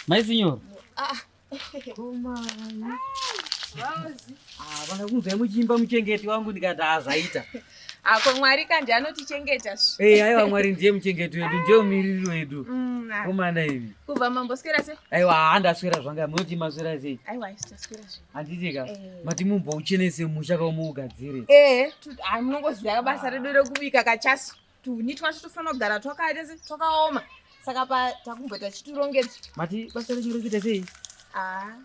Mai signor. Ah. Kumana. Ah, vana kunzwa muchimba muchengeti wangu ndikati hazvaita. Ako ah, Mwari ka ndiye anotichengeta svi. Eh, hey, aiwa Mwari ndiye muchengeti wedu, ndiye mumiriri wedu. Mm, ah. Komana imi. Kubva mamboswera se? Aiwa, handaswera zvanga, munoti maswera sei? Aiwa, handaswera zve. Handiti ka? Eh. Mati mumbo uchenese musha ka umuugadzire. Eh, ah, munongoziva ka basa redu rekubika kachasu. Tuni twacho tofanira kugara twakaita se twakaoma. Saka pa takumboita chiturongedza. Mati basa renyu rekuita sei? Ah.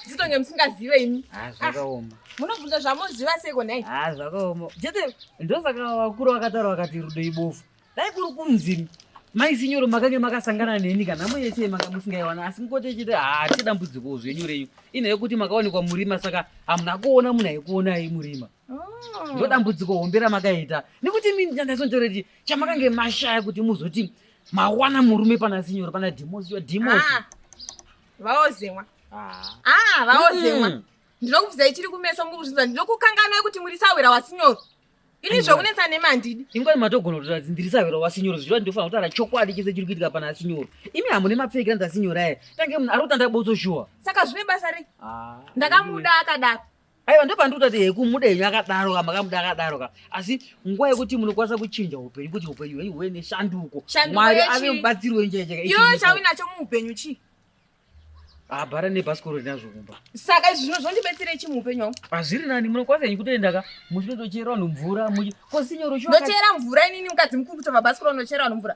Zitonge musingazive imi. Ah, zvakaoma. Ah, munobvunza zvamuziva seko nhai? Ah, zvakaoma. Chete ndosaka vakuru vakataura vakati rudo ibofu. Dai kuri kunzini. Mai sinyoro makange makasangana neni kana mwe yese manga musingaiwana asi mukote chete ah chidambudziko zvenyu renyu. Ine yekuti makaonekwa murima saka hamuna kuona munhu aikuona ai murima. Oh. Ndodambudziko hombe ramakaita. Nekuti mimi ndandazonjoreti chamakange mashaya kuti muzoti mawana murume pana sinyoro pana dimosi yo dimosi. Ah. vaozemwa ah. ah, vaozemwa mm. ndinokubvizai chiri kumeso muri kuzvinzwa ndinokukanganai kuti muri sahwira wasinyoro ini zvokunetsa nemi handidi ingwai matogona kuti radzi ndiri sahwira wasinyoro zvichiva ndinofanira kutaura chokwadi chese chiri kuitika pana asinyoro imi hamune mapfekira ndasinyora aya tange munhu ari kutanda botso shuwa saka zvine basa rei ah, ndakamuda akadaro aiwa ndopandikutoti hekumudenyu akadaroka makamuda akadaroka asi nguva yekuti munokwanisa kuchinja upenyu kuti upenyu hwenyu huve neshanduko mwari ave mubatsiri wenjejekauinacho muupenyu chii habhara nebhasikoro rinazvo kumba saka izvi zvino zvondibetsere chi muupenyu wangu hazviri nani munokwanisa nyi kutoendaka muchinotochera vanhu mvura muchi kosinyoro ndochera mvura inini mukadzi mukuru kutova bhasikoro ndochera vanhu mvura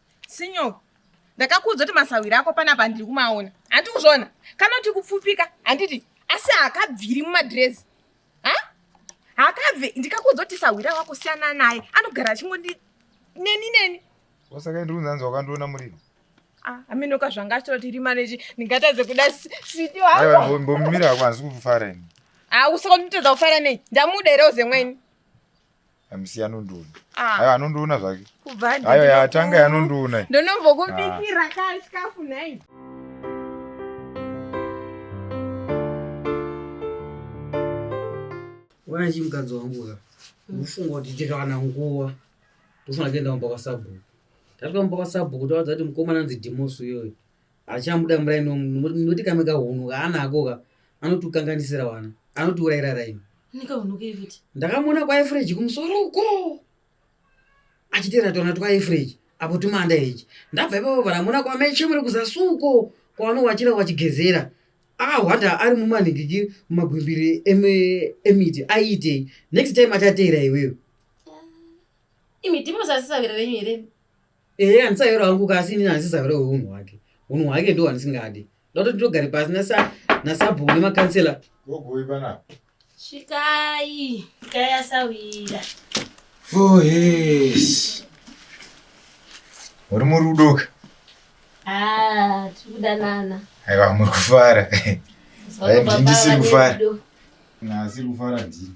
Sinyo, ndakakuudza kuti masahwira ako panapa ndiri kumaona. Handi kuzvona. Kana kuti kupfupika, handiti asi hakabviri mumadrezi. Ha? Hakabve, ndikakuudza kuti sahwira wako siyana naye. Anogara achingondi neni neni. Wasaka ndiri kunzanzi wakandiona muriro. Ah, ameno ka zvanga achitira kuti rima nechi ndingatadze kuda siti wako. Aiwa, mbomira hako handisi kufara ini. Ah, usaka nditadza kufara nei? Ndamuda here uzemweni? amusiya anondiona ah. ayo anondiona zvake ayo yatanga yanondiona ndonombokubikira ah. ka chikafu nhai wana chi mukadzi wangu ka ndofunga kuti tikawana nguva ndofanira kuenda kumba kwasabhuku tatwa kumba kwasabhuku tawadza kuti mukomana anzi dimosu iyoyo achamuda muraini noti kamwe kahunhu kaanako ka anotikanganisira wana anotiurayira raini ndakamuona kwaefreji kumusoro uko achitera tona twaefreji apo tumanda heji ndabva ipapo vanamuona kwamechemure kuzasuko kwaanowachira wachigezera ahwanda ari mumanhikiki mumagwimbiri emiti aiitei next time achateera iwewe imi timosasisavira venyu here ehe handisayora wangu ka asi inini handisizayore weunhu hwake unhu hwake ndo hwandisingadi ndototi ndogare pasi nasabhuku nemakansela gogoi panapa svikai svikai asawira ohes oh, uri muri kudoka ah, tiri kudanana aiwa muri kufara ndisiri kufara nasiri kufara ndini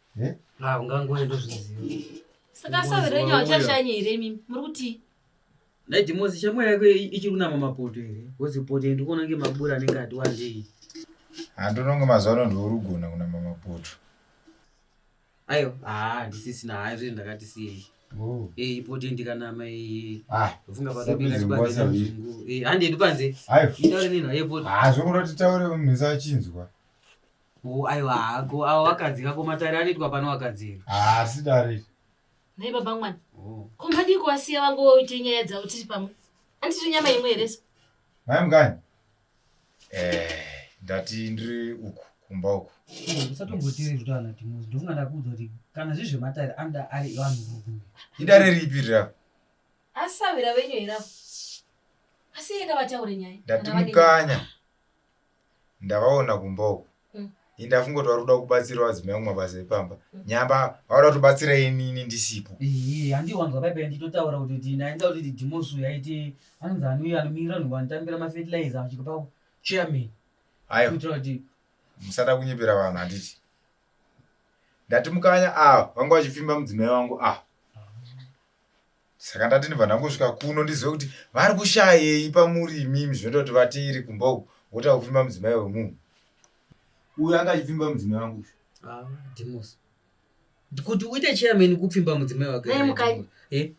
Eh? Ah, ungangoe ndozviziva. Saka savi renyu hachashanye here mimi? Muri kuti? Dai Dimozi shamwari yako ichiri kunama mapoto here? Wozi poto ndikuona kunge mabura anenge ati wandei. Handononge mazuva ano ndiwe urugona kunama mapoto. Ayo, ah, ndisisina hayi zviri ndakati sei. Oh. Eh, ipoto ndikanama iyi. Ah, ufunga pakapinda chibadzo chungu. Eh, handi edu panze. Ayo. Itaure nini hayi poto. Ah, zvokuda titaure munhu achinzwa. Oh, aiwa hako awo wakadzi kako matare anoitwa pano wakadzi ere? haasi dare Nhai baba mwana. Oh. Ko madii kuwasiya vangu woite nyaya dzavo tiri pamwe. Anditi nyama imwe here so? mai mukanya eh, ndati ndiri uku kumba uku usatombotiri zvitana timuzi ndofunga ndakuudza kuti kana zvi zvematare anoda ari vanhurume idare ripi rira Asi savira venyu here avo? Asi yeka vataure nyaya. ndati Kana vane nyaya. mukanya ndavaona kumba uku mm. ini ndafunga kuti vari kuda kubatsira vadzimai kumwe mabasa epamba mm. nyamba vauda kutobatsira inini ndisipo iye handiwanzwa paipai nditotaura kuti kuti ndainza kuti ti dimosu yaiti anonzi anuyo anomirira nhu vanotambira mafertilizer achiko pa chairman ayo kuitira kuti musada kunyepera vanhu handiti ndati mukanya ava ah, vanga vachipfimba mudzimai wangu ava ah. saka ndati ndibva ndangosvika kuno ndizive kuti vari kushayei pamuri imimi zvinoita kuti vatiiri kumba uku wota kupfimba mudzimai wemunhu uyu anga achipfimba mudzimai wangu ah, demos kuti uite chairman kupfimba mudzimai wake eh?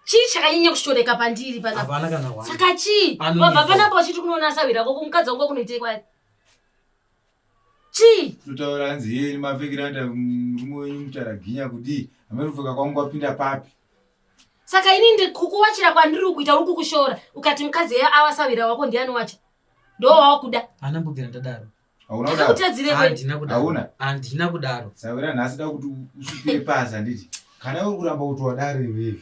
chii chakanyanya kushoreka pandiri panapana kana saka chii wabva panapa wachiti kunoona sahwira koko mukadzi wangu wakunoitei kwai chii Totaura hanzi yeye mapfekero anoita murume wenyu mutaraginya kudii. Amai kupfeka kwangu kwapinda papi. saka ini ndi- kukuwachira kwandiri ukuita uri kukushora ukati mukadzi eya awasavira wako ndiani wacho ndo wawakuda haana mbobvira ndadaro Hauna kudaro. akutadzire kwei handina kudaro Hauna? handina kudaro Sawira nhasi da kuti usvipire pasi handiti. Kana uri kuramba kuti wadare wewe.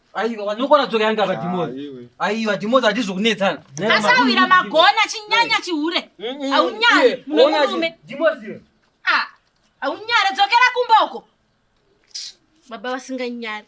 aiwa nokona dzoka yanga vadhimozi aiwa dhimozi hatizvo kunetsana asawira magona chinyanya chihure aunyari munomurume aunyari dzokera kumba uko baba vasinganyari